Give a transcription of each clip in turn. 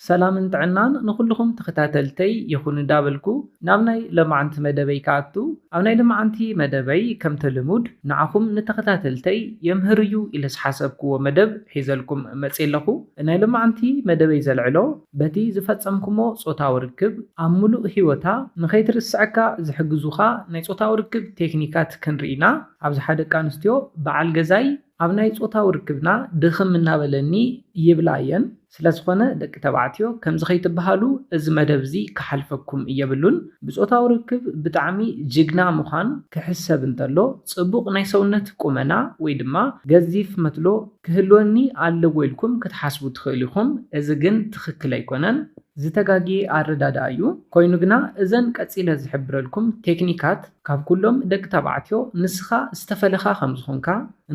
ሰላምን ጥዕናን ንኹሉኹም ተኸታተልተይ ይኹን ዳበልኩ ናብ ናይ ለማዓንቲ መደበይ ክኣቱ ኣብ ናይ ልማዓንቲ መደበይ ከምቲ ልሙድ ንዓኹም ንተኸታተልተይ የምህር እዩ ኢለ ዝሓሰብክዎ መደብ ሒዘልኩም መጽየ ኣለኹ ናይ ልማዓንቲ መደበይ ዘልዕሎ በቲ ዝፈጸምክሞ ጾታዊ ርክብ ኣብ ሙሉእ ሂወታ ንኸይትርስዐካ ዝሕግዙኻ ናይ ጾታዊ ርክብ ቴክኒካት ክንርኢ ኢና ኣብዝሓ ደቂ ኣንስትዮ ብዓል ገዛይ ኣብ ናይ ጾታዊ ርክብና ድኽም እናበለኒ ይብላ እየን ስለዝኾነ ደቂ ተባዕትዮ ከምዚ ከይትብሃሉ እዚ መደብ እዚ ክሓልፈኩም የብሉን ብጾታዊ ርክብ ብጣዕሚ ጅግና ምዃን ክሕሰብ እንተሎ ጽቡቕ ናይ ሰውነት ቁመና ወይ ድማ ገዚፍ መትሎ ክህልወኒ ኣለዎ ኢልኩም ክትሓስቡ ትኽእሉ ኢኹም እዚ ግን ትኽክል ኣይኮነን ዝተጋግየ ኣረዳድኣ እዩ ኮይኑ ግና እዘን ቀጺለ ዝሕብረልኩም ቴክኒካት ካብ ኩሎም ደቂ ተባዕትዮ ንስኻ ዝተፈለኻ ከምዝኾንካ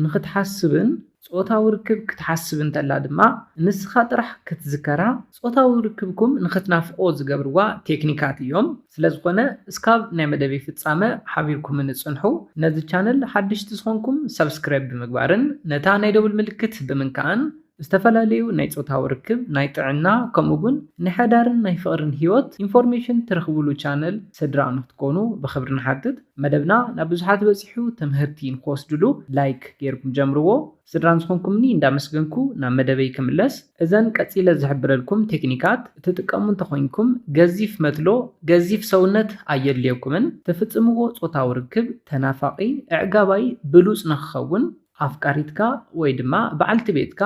ንኽትሓስብን ጾታዊ ርክብ ክትሓስብ እንተላ ድማ ንስኻ ጥራሕ ክትዝከራ ጾታዊ ርክብኩም ንኽትናፍቖ ዝገብርዋ ቴክኒካት እዮም። ስለዝኾነ እስካብ ናይ መደበይ ፍጻመ ሓቢርኩምኒ ጽንሑ። ነዚ ቻነል ሓደሽቲ ዝኾንኩም ሳብስክራይብ ብምግባርን ነታ ናይ ደውል ምልክት ብምንካእን ዝተፈላለዩ ናይ ጾታዊ ርክብ፣ ናይ ጥዕና ከምኡ ውን ንሐዳርን ናይ ፍቕርን ሂወት ኢንፎርሜሽን ትረኽብሉ ቻነል ስድራ ንኽትኮኑ ብኽብሪ ንሓትት። መደብና ናብ ብዙሓት በጺሑ ተመሀርቲ ንክወስድሉ ላይክ ገይርኩም ጀምርዎ። ስድራን ዝኾንኩምኒ እንዳመስገንኩ ናብ መደበይ ክምለስ እዘን ቀጺለ ዝሕብረልኩም ቴክኒካት እትጥቀሙ እንተኾይንኩም ገዚፍ መትሎ ገዚፍ ሰውነት ኣየድልየኩምን ትፍጽምዎ ጾታዊ ርክብ ተናፋቂ እዕጋባይ ብሉጽ ንክኸውን ኣፍቃሪትካ ወይ ድማ በዓልቲ ቤትካ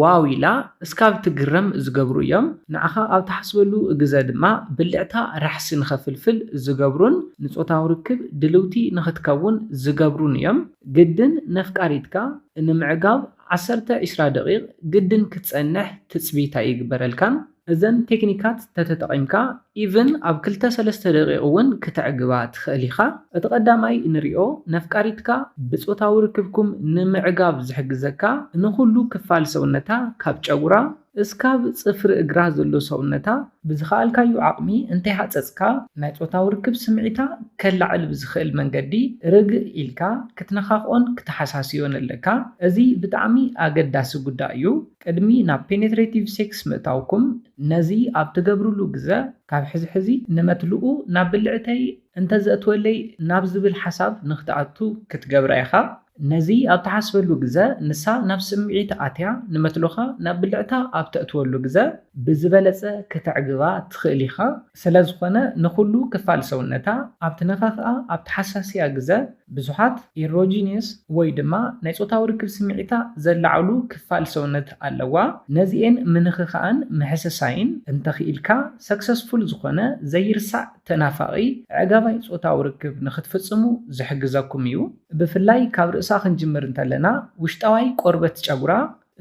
ዋው ኢላ እስካብ ትግረም ዝገብሩ እዮም። ንዓኻ ኣብ ትሓስበሉ ግዘ ድማ ብልዕታ ራሕሲ ንኸፍልፍል ዝገብሩን ንፆታዊ ርክብ ድልውቲ ንኽትከውን ዝገብሩን እዮም። ግድን ነፍቃሪትካ ንምዕጋብ ዓሰርተ ዒስራ ደቂቕ ግድን ክትፀንሕ ትፅቢት ኣይግበረልካን። እዘን ቴክኒካት ተተጠቒምካ even ኣብ ክልተ ሰለስተ ደቒቕ እውን ክተዕግባ ትኽእል ኢኻ። እቲ ቀዳማይ እንሪኦ ነፍቃሪትካ ብጾታዊ ርክብኩም ንምዕጋብ ዝሕግዘካ ንኹሉ ክፋል ሰውነታ ካብ ጨጉራ እስካብ ጽፍሪ እግራ ዘሎ ሰውነታ ብዝኸኣልካዮ ዓቕሚ እንተይሃጸጽካ ናይ ጾታዊ ርክብ ስምዒታ ከላዕል ብዝኽእል መንገዲ ርግእ ኢልካ ክትነኻኽኦን ክተሓሳስዮን ኣለካ። እዚ ብጣዕሚ ኣገዳሲ ጉዳይ እዩ። ቅድሚ ናብ ፔኔትሬቲቭ ሴክስ ምእታውኩም ነዚ ኣብ ትገብርሉ ግዘ ካብ ሕዚ ሕዚ ንመትልኡ ናብ ብልዕተይ እንተዘእትወለይ ናብ ዝብል ሓሳብ ንክትኣቱ ክትገብራ ኢኻ። ነዚ ኣብ ትሓስበሉ ግዘ ንሳ ናብ ስምዒት ኣትያ ንመትሎኻ ናብ ብልዕታ ኣብ ተእትወሉ ግዘ ብዝበለፀ ክተዕግባ ትኽእል ኢኻ። ስለዝኾነ ንኹሉ ክፋል ሰውነታ ኣብ ትነካኽኣ ኣብ ትሓሳስያ ግዘ ብዙሓት ኢሮጂንየስ ወይ ድማ ናይ ፆታዊ ርክብ ስምዒታ ዘላዕሉ ክፋል ሰውነት ኣለዋ ነዚኤን ምንኽኻእን ምሕስሳይን እንተኽኢልካ ሰክሰስፉል ዝኾነ ዘይርሳዕ ተናፋቒ ኣዕጋባይ ፆታዊ ርክብ ንኽትፍፅሙ ዝሕግዘኩም እዩ። ብፍላይ ካብ ርእሳ ክንጅምር እንተለና ውሽጣዋይ ቆርበት ጨጉራ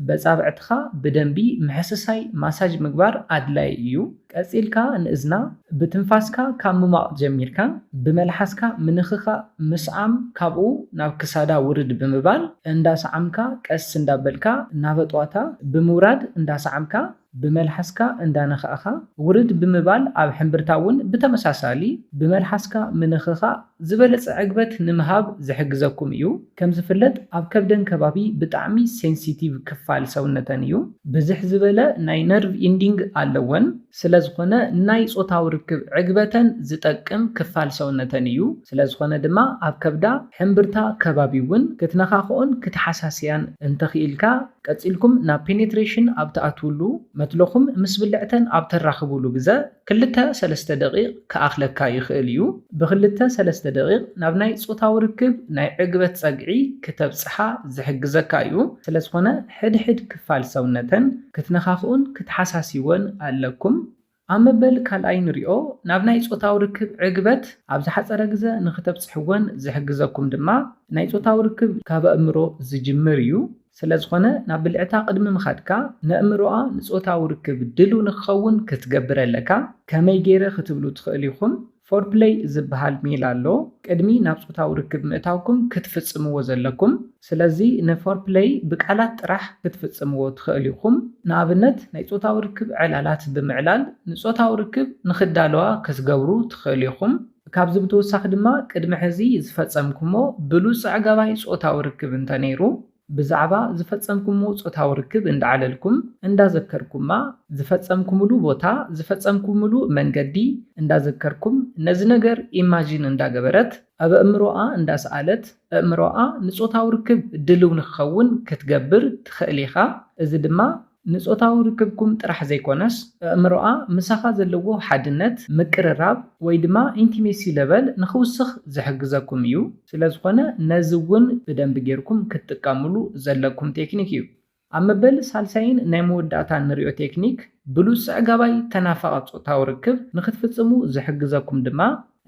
በጻብዕትኻ ብደንቢ ምሕስሳይ፣ ማሳጅ፣ ምግባር ኣድላዪ እዩ። ቀጺልካ ንእዝና ብትንፋስካ ካብ ምሟቕ ጀሚርካ ብመልሓስካ ምንኽኻእ፣ ምስዓም፣ ካብኡ ናብ ክሳዳ ውርድ ብምባል እንዳሰዓምካ ቀስ እንዳበልካ ናበ ጥዋታ ብምውራድ እንዳሰዓምካ፣ ብመልሓስካ እንዳነኻእኻ ውርድ ብምባል ኣብ ሕምብርታ እውን ብተመሳሳሊ ብመልሓስካ ምንኽኻእ ዝበለጸ ዕግበት ንምሃብ ዝሕግዘኩም እዩ። ከም ዝፍለጥ ኣብ ከብደን ከባቢ ብጣዕሚ ሴንሲቲቭ ክፋል ሰውነተን እዩ። ብዝሕ ዝበለ ናይ ነርቭ ኢንዲንግ ኣለወን። ስለ ዝኾነ ንናይ ጾታዊ ርክብ ዕግበተን ዝጠቅም ክፋል ሰውነተን እዩ። ስለ ዝኾነ ድማ ኣብ ከብዳ፣ ሕምብርታ፣ ከባቢ እውን ክትነኻኽኦን ክትሓሳስያን እንተኽኢልካ ቀጺልኩም ናብ ፔኔትሬሽን ኣብ ትኣትዉሉ፣ መትሎኹም ምስ ብልዕተን ኣብ ተራኽቡሉ ግዘ፣ ክልተ ሰለስተ ደቒቕ ክኣኽለካ ይኽእል እዩ። ብክልተ ሰለስተ ደቒቕ ናብ ናይ ጾታዊ ርክብ ናይ ዕግበት ጸግዒ ክተብጽሓ ዝሕግዘካ እዩ። ስለዝኾነ ሕድሕድ ክፋል ሰውነተን ክትነኻኽኡን ክትሓሳስይወን ኣለኩም። ኣብ መበል ካልኣይ ንሪኦ ናብ ናይ ጾታዊ ርክብ ዕግበት ኣብ ዝሓጸረ ግዘ ንክተብጽሕወን ዝሕግዘኩም ድማ ናይ ጾታዊ ርክብ ካብ ኣእምሮ ዝጅምር እዩ ስለዝኾነ ናብ ብልዕታ ቅድሚ ምኻድካ ነእምሮኣ ንጾታዊ ርክብ ድልው ንክኸውን ክትገብር ኣለካ ከመይ ገይረ ክትብሉ ትኽእሉ ኢኹም ፎርፕለይ ዝበሃል ሜላ ኣሎ ቅድሚ ናብ ጾታዊ ርክብ ምእታውኩም ክትፍጽምዎ ዘለኩም። ስለዚ ንፎርፕለይ ብቃላት ጥራሕ ክትፍጽምዎ ትኸእሉ ኢኹም። ንኣብነት ናይ ጾታዊ ርክብ ዕላላት ብምዕላል ንጾታዊ ርክብ ንኽዳለዋ ክትገብሩ ትኸእሉ ኢኹም። ካብዚ ብተወሳኺ ድማ ቅድሚ ሕዚ ዝፈጸምኩሞ ብሉጽ ኣዕጋባይ ጾታዊ ርክብ እንተነይሩ ብዛዕባ ዝፈጸምኩምዎ ጾታዊ ርክብ እንዳዕለልኩም፣ እንዳዘከርኩማ፣ ዝፈጸምኩምሉ ቦታ፣ ዝፈጸምኩምሉ መንገዲ እንዳዘከርኩም፣ ነዚ ነገር ኢማጂን እንዳገበረት፣ ኣብ ኣእምሮኣ እንዳሰኣለት፣ ኣእምሮኣ ንጾታዊ ርክብ ድልው ንክኸውን ክትገብር ትኸእል ኢኻ። እዚ ድማ ንጾታዊ ርክብኩም ጥራሕ ዘይኮነስ እእምሮኣ ምሳኻ ዘለዎ ሓድነት፣ ምቅርራብ፣ ወይ ድማ ኢንቲሜሲ ለቨል ንኽውስኽ ዝሕግዘኩም እዩ። ስለዝኾነ ነዚ እውን ብደንቢ ጌርኩም ክትጥቀምሉ ዘለኩም ቴክኒክ እዩ። ኣብ መበል ሳልሳይን ናይ መወዳእታን ንሪኦ ቴክኒክ ብሉጽ ጸዕጋባይ ተናፋቒ ጾታዊ ርክብ ንኽትፍጽሙ ዝሕግዘኩም ድማ፣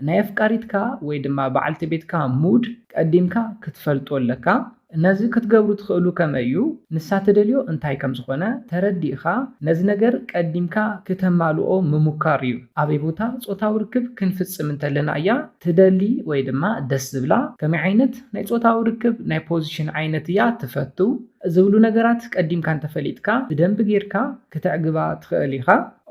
ናይ ኣፍቃሪትካ ወይ ድማ በዓልቲ ቤትካ ሙድ ቀዲምካ ክትፈልጦ ኣለካ። ነዚ ክትገብሩ ትኽእሉ ከመይ እዩ? ንሳ ትደልዮ እንታይ ከም ዝኾነ ተረዲእኻ ነዚ ነገር ቀዲምካ ክተማልኦ ምሙካር እዩ። ኣበይ ቦታ ጾታዊ ርክብ ክንፍጽም እንተለና እያ ትደሊ ወይ ድማ ደስ ዝብላ? ከመይ ዓይነት ናይ ጾታዊ ርክብ ናይ ፖዚሽን ዓይነት እያ ትፈቱ? ዝብሉ ነገራት ቀዲምካ እንተፈሊጥካ ብደንቢ ጌርካ ክተዕግባ ትኽእል ኢኻ።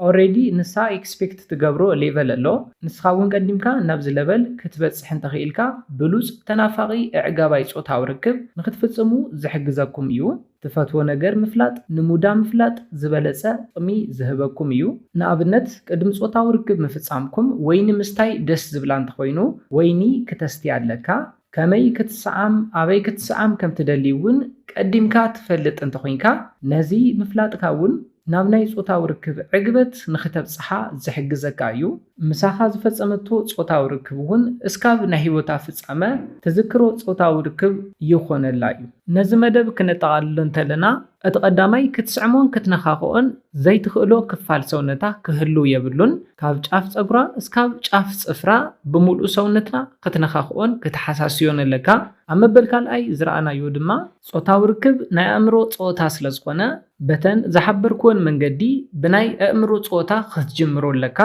ኦሬዲ ንሳ ኤክስፔክት ትገብሮ ሌቨል ኣሎ ንስኻ ውን ቀዲምካ ናብዚ ለቨል ክትበጽሕ እንተኺኢልካ ብሉጽ ተናፋቂ እዕጋባይ ጾታዊ ርክብ ንኽትፍጽሙ ዝሕግዘኩም እዩ ትፈትዎ ነገር ምፍላጥ ንሙዳ ምፍላጥ ዝበለጸ ጥቅሚ ዝህበኩም እዩ ንኣብነት ቅድሚ ጾታዊ ርክብ ምፍጻምኩም ወይኒ ምስታይ ደስ ዝብላ እንተኾይኑ ወይኒ ክተስትይ ኣለካ ከመይ ክትሰዓም ኣበይ ክትሰዓም ከም ትደሊ እውን ቀዲምካ ትፈልጥ እንተ ኹንካ፣ ነዚ ምፍላጥካ እውን ናብ ናይ ጾታዊ ርክብ ዕግበት ንኽተብጽሓ ዝሕግዘካ እዩ። ምሳኻ ዝፈጸመቶ ጾታዊ ርክብ እውን እስካብ ናይ ህይወታ ፍጻመ ትዝክሮ ጾታዊ ርክብ ይኾነላ እዩ። ነዚ መደብ ክነጠቓልሎ እንተለና፣ እቲ ቀዳማይ ክትስዕሞን ክትነኻኽኦን ዘይትኽእሎ ክፋል ሰውነታ ክህሉ የብሉን። ካብ ጫፍ ጸጉራ እስካብ ጫፍ ጽፍራ ብምሉእ ሰውነትና ክትነኻኽኦን ክትሓሳስዮን ኣለካ። ኣብ መበል ካልኣይ ዝረኣናዮ ድማ ጾታዊ ርክብ ናይ ኣእምሮ ጸወታ ስለዝኾነ በተን ዝሓበርክወን መንገዲ ብናይ ኣእምሮ ጸወታ ክትጅምሮ ኣለካ።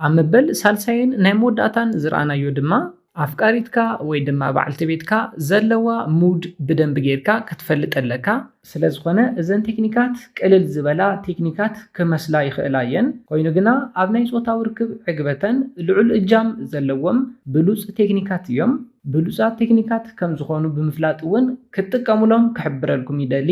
ኣብ መበል ሳልሳይን ናይ መወዳእታን ዝረኣናዮ ድማ ኣፍቃሪትካ ወይ ድማ በዓልቲ ቤትካ ዘለዋ ሙድ ብደንቢ ጌርካ ክትፈልጥ ኣለካ። ስለዝኾነ እዘን ቴክኒካት ቅልል ዝበላ ቴክኒካት ክመስላ ይኽእላ እየን፣ ኮይኑ ግና ኣብ ናይ ጾታዊ ርክብ ዕግበተን ልዑል እጃም ዘለዎም ብሉጽ ቴክኒካት እዮም። ብሉጻት ቴክኒካት ከምዝኾኑ ብምፍላጥ እውን ክትጥቀሙሎም ክሕብረልኩም ይደሊ።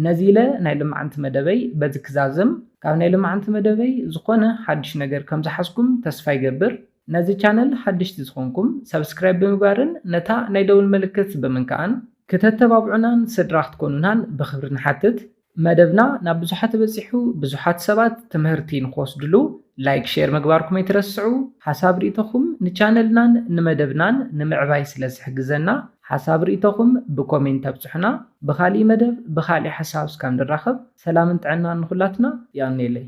ነዚ ኢለ ናይ ልማዓንቲ መደበይ በዚ ክዛዝም ካብ ናይ ልማዓንቲ መደበይ ዝኮነ ሓዱሽ ነገር ከም ዝሓዝኩም ተስፋ ይገብር ነዚ ቻነል ሓደሽቲ ዝኮንኩም subscribe ብምግባርን ነታ ናይ ደውል ምልክት ብምንካኣን ክተተባብዑናን ስድራ ክትኮኑናን ብክብሪ ንሓትት መደብና ናብ ብዙሓት በጺሑ ብዙሓት ሰባት ትምህርቲ ንክወስድሉ ላይክ ሼር ምግባርኩም ኣይትረስዑ ሓሳብ ሪኢቶኹም ንቻነልናን ንመደብናን ንምዕባይ ስለ ዝሕግዘና ሓሳብ ሪኢቶኹም ብኮሜንት ኣብፅሑና ብኻሊእ መደብ ብኻሊእ ሓሳብ እስካብ ንራኸብ ሰላምን ጥዕናን ንኹላትና የቀንየለይ።